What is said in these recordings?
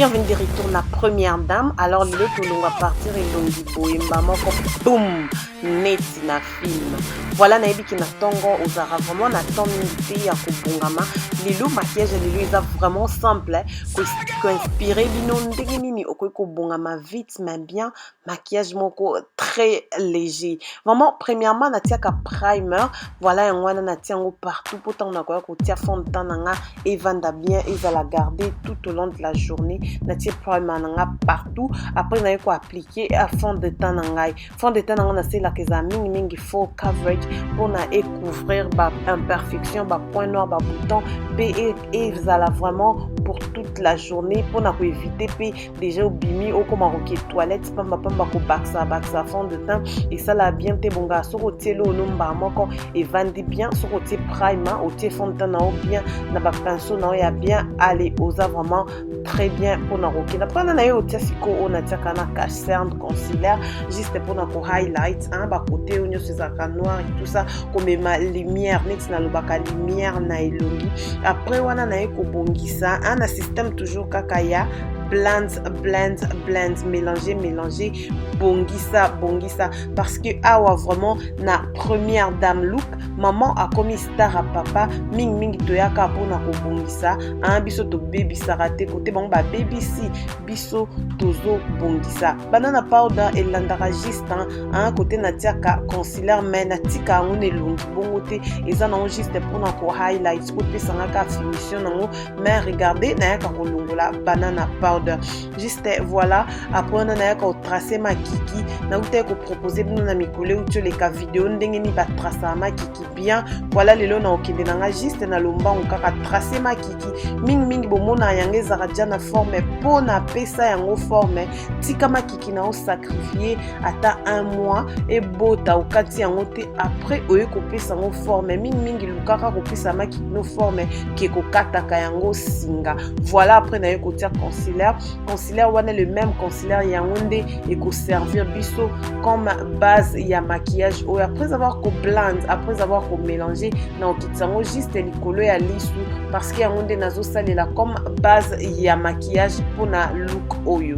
bienvenue de retour na première dame alors lelo tolongwa partir elongi boyemba moko boum neti na film voilà nayebi ke na ntongo ozalaka vraiment na temps mingi te ya kobongama lelo maquillage lelo eza vraiment simple koinspire bino ndenge nini okoki kobongama vite mais bien maquillage moko très léger vraiment premièrement natiaka primer voilà yango wana natia yango partout mpo ntango nakoya kotia fond de temps na nga evanda bien ezala garde tout au long de la journée natie primer na nga partout après naye koapplique a fond de temps na ngai fond de temps na nga naselaka ezala mingimingi faux coverage mpo na ecouvrir ba imperfection ba point noir ba bouton mpe ezala vraiment pour toute la journée mpo na koevite mpe deja obimi okoma koke toilette pamba pamba kobakisa bakisa fond de teint esala bien te bonga soki otie lono mbaa moko evandi bien soki otie prime otie fond de teint na yo bien na bapinceau na yo ya bien ale oza vraiment très bien mpona kokenda mpana na yo otia sikoyo oyo natiaka na cacerne concilaire juste mpona ko highlight hein, bakote oyo nyonso ezalaka noir et tout ça komema lumière neti nalobaka lumière na elongi après wana naye kobongisa hein, na système toujours kaka ya blends, blends, blends, mélanger, mélanger, bongisa, bongisa. Parce que awa vraiment na première dame look, maman a commis star à papa, ming ming toyaka pona ko bongisa, hein, biso to baby sarate côté bon ba baby si, biso tozo bongisa. Banana powder et landaka juste hein, hein côté na tiaka concealer mais na tika ngone longi bongo te, eza na juste pona ko highlights, ko pesanga ka finition nango mais regardez nayaka kolongola banana powder juste voilà après wana nayaka kotrace makiki nautaki kopropose bino na mikolo euti oleka video ndenge nini batrasaka makiki bien voilà lelo na okende na ngai juste na lombango kaka trace makiki mingimingi bomonaka yango ezalaka deja na forme mpo napesa yango forme tika makiki ndoki na osacrifie ata un mois ebota okati yango te après oye kopesa yango forme mingimingi lukaka kopesa maki no forme ke kokataka yango singa voilà après naye kotia concilaire concilaire wana le même concilaire yango nde ekoservir biso comme base ya maquillage oyo après avoir koblande après avoir komélange na okitisa yango juste likolo ya lisu parce que yango nde nazosalela comme base ya maquillage mpona look oyo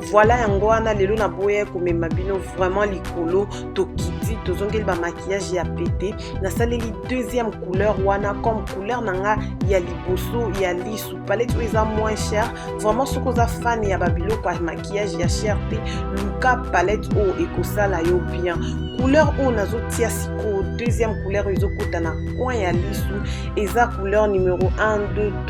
Voilà yango wana lelo na boye komema bino vraiment likolo tokiti tozongeli ba maquillage ya pete nasaleli deuxième couleur wana comme couleur na nga ya liboso ya lisu palette oyo eza moins cher vraiment soki oza fan ya babiloko ya maquillage ya cher te luka palette oyo ekosala yo bien couleur oyo nazotia sikoyo deuxième couleur oyo ezokota na coin ya lisu eza couleur numero 1 2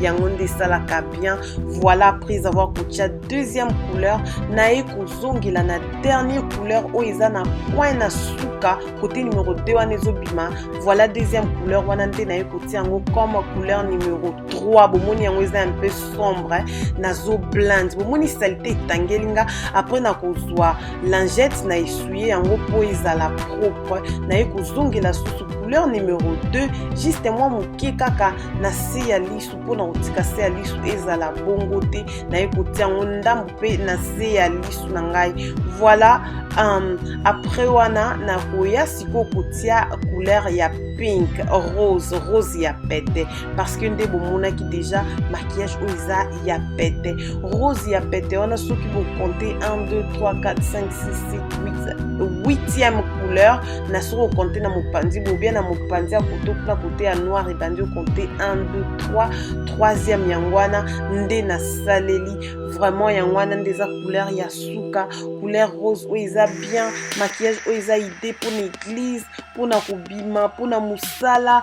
yango nde esalaka bien voilà après avoir kotia deuxième couleur naye kozongela na dernier couleur oyo eza na coin na suka kote numero 2 wana ezobima voilà deuxième couleur wana nde naye kotia yango comme couleur numero 3 bomoni yango eza un peu sombre nazo blinde bomoni salite etangeli nga après nakozwa lingette na essuye yango mpo ezala propre naye kozongela susu couleur numero 2 juste mwa moke kaka na se ya lisu mpo na kotika se ya lisu ezala bongo te naye kotia yango ndambo mpe na se ya lisu na ngai voilà um, après wana nakoya sikoyo kotia couleur ya pink rose rose ya pete parce que nde bomonaki déjà maquillage oyo eza ya pete rose ya pete wana soki bokonte 1 2 3 4 5 6 7 8 8e couleur na soki okonte na mopanzi bobia na mopanzi ya koto kuna kote ya noir ebandi okonte 1 2 3 troisième yango wana nde nasaleli vraiment yango wana nde eza couleur ya suka couleur rose oyo eza bien maquillage oyo eza idée mpona église mpona kobima mpona mosala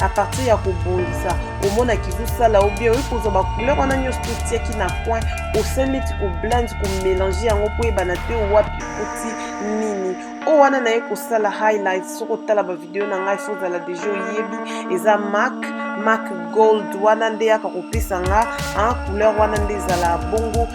à partir ya kobongisa omona kizosala ou bien oyi kozwa bacouleur wana nyonso totiaki na coin osali neti koblande komélange yango mpo oyebana te wapi oti nini oyo wana naye kosala highlight soki otala bavideo na ngai fo ozala deja oyebi eza mak mak gold wana nde yaka kopesa nga couleur wana nde ezala bongo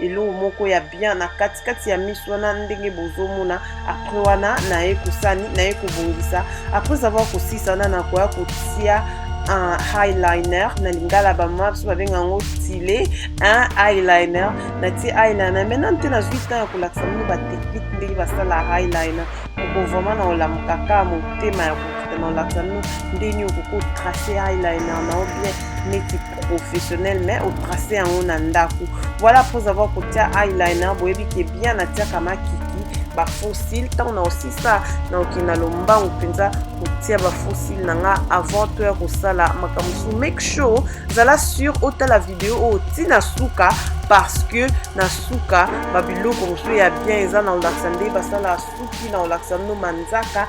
eloko moko ya bien na katikati ya miso wana ndenge bozomona apres wana naye kosani naye kobongisa apres avoir kosisa wana nakoya kotia un highliner na lingala bamama biso babenga yango stile un highliner natie highliner mai nanu te nazwi ntan ya kolakisa bino batechnike ndenge basala highliner oko vraiment na olamuka kaka motema ya kokita na olakisa bino ndenge okoki otrace highliner na yo bien neti professionnel mais otrace yango na ndako voilà après avoir kotia eyeliner boyebi ke bien natiaka makiki bafossile ntango na osisa na okenda lombangu mpenza kotia bafossile na nga avant to ya kosala makambo mosusu make sure zala sur otala video oyo ti na suka parce que na suka babiloko mosusu ya bien eza na olakisa nde basala suki na olakisa no manzaka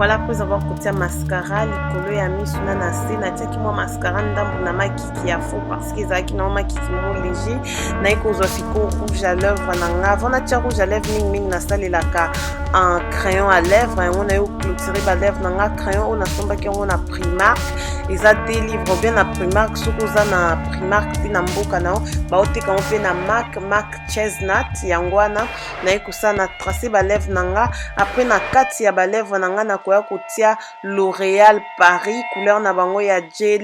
voilà après avoir kotia mascara likolo ya misu na na se natiaki mwa mascara ndambo na makiki ya faux parce que ezalaki na mwa makiki mo léger naye kozwa sikoyo rouge à lèvre na nga avant natia rouge à lèvre mingimingi nasalelaka un crayon à lèvre yango naye oclotire balèvre na nga crayon oyo nasombaki yango na primark eza te livre bien na primark soki oza na mark mpe na mboka na yo baoteka yango mpe na mark mark chesnat yango wana naye kosala na trace balèvre na nga apres na kati ya balèvre na nga nakoya kotia l'oreal paris couleur na bango ya eh,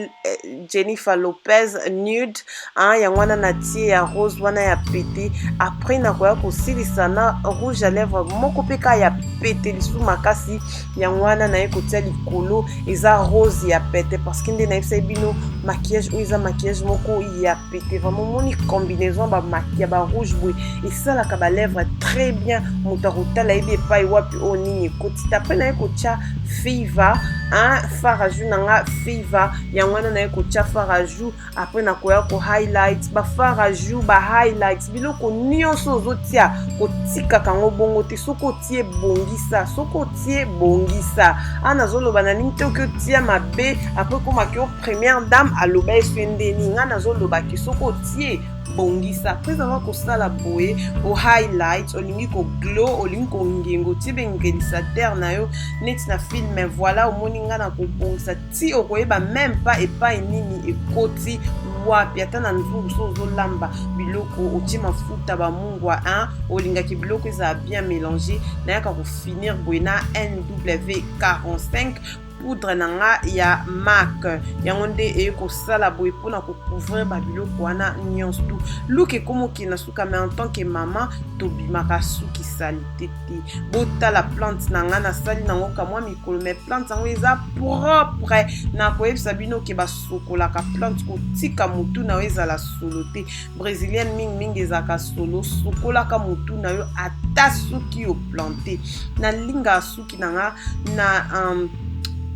jennifer lopez nude hein, yango wana natie ya rose wana ya pete apres nakoya kosilisa na rouge à lèvre moko mpe ka ya pete lisusu makasi yango wana naye kotia likolo eza rose ya pete parceke nde nayebisaki bino maquillage oyo eza maquillage moko ya pete vraimen omoni combinaison ya barouge boye esalaka balèvre très bien moto akotala yebi epai wapi oyo nini ekoti tape naye kotya fever un far ajou na nga fever yango wana naye kotya far ajou après nakoya ko highlight bafar ajour ba highlight biloko nyonso ozotia kotikaka yango bongo te soki otie bongisa soki otie bongisa a nazoloba na nini te oki otia mabe après komaki o première dame aloba eswe ndeni ngai nazoloba ke soki otie kobongisa après avoir kosala boye o highlight olingi koglow olingi kongengo otie bengenisa terre na yo neti na filme voilà omoni ngai na kobongisa ti okoyeba meme pas epai nini ekoti wapi ata na nzungu so ozolamba biloko otie mafuta bamungwa hein? olingaki biloko ezala bien mélange nayaka kofinir boye na nw 45 poudre na nga ya mak yango nde eye kosala boye mpona kocouvrir babiloko wana nyonso tu luka ekomokende na suka mais en tant que mama tobimaka suki salite te botala plante na ngai nasali nango kamwa mikolo mai plante yango eza propre na koyebisa bino ke basokolaka plante kotika motu na yo ezala solo te brésilienne mingimingi ezalaka solo sokolaka motu na yo ata soki oplante nalingaka suki na ngai na um,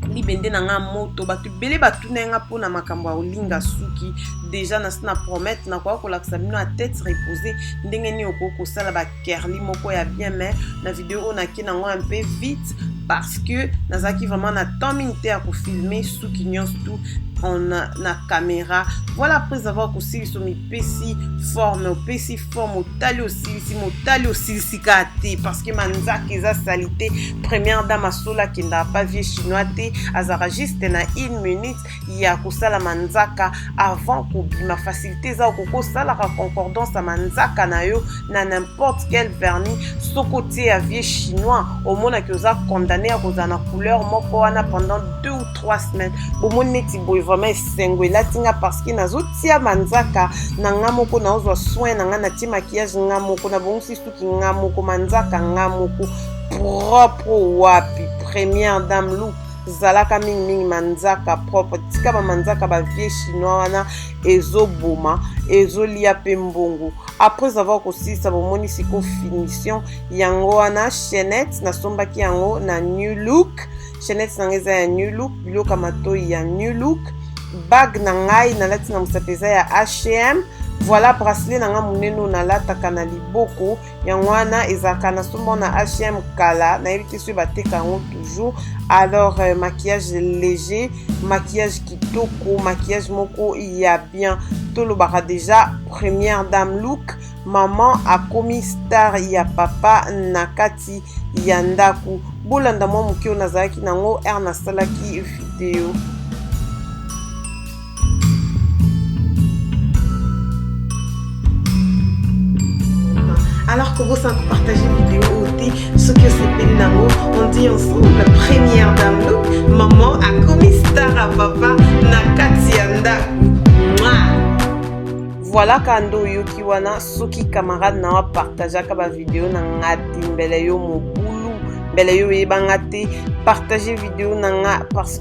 libende na ngai moto bato ebele batuna ye ngai mpo na makambo ya kolinga suki deja nasi na promete nakoya kolakisa bino ya tete repose ndenge nini okoki kosala kerly moko ya bien mais na video oyo nake nango un peu vite parce que nazalaki vraiment na temps mingi te ya kofilme suki nyonso tout en na, na caméra voilà après avoir kosilisa omipesi forme opesi forme otali osilisi motali osilisi kaka te parce que manzaka eza salite première dame asola akendaka pa vie chinois te azalaka juste na une minute ya kosala manzaka avant kobima facilité eza okoki kosalaka concordance ya manzaka na yo na n'importe quel vernis soki otie ya vieux chinois omonaki oza condamné ya kozala na couleur moko wana pendant deux ou trois semaines bomoni neti boye vraiment esengo elati nga parce que nazotia manzaka na nga moko naozwa soin na nga natie maquillage nga moko nabongisi suki nga moko manzaka nga moko propre wapi première dame loupe zalaka mingi mingi manzaka propre tika ba manzaka ba vieux chinois wana ezoboma ezolia pe mbongo après avoir kosilisa bomoni siko finition yango wana chainette nasombaki yango na new look chainette nanga eza ya new look biloko ya matoi ya new look bague na ngai nalati na mosapi eza ya hm voilà bracelet na ngai monene oyo nalataka na liboko yango wana ezalaka na somo na hm kala nayebi te soki bateka yango toujours alors euh, maquillage léger maquillage kitoko maquillage moko ya bien tolobaka déjà première dame look maman akomi star ya papa na kati ya ndako bolanda mwa moke oyo nazalaki nango r nasalaki video alors kobosa kopartage video oyo te soki osepeli nango on dit ensemble la première dame look maman akomi star ya papa na kati ya ndako voilà kando oyoki wana soki camarade na yo apartageaka bavideo na nga te mbele yo mobulu mbele yo oyebanga te partage video na nga parce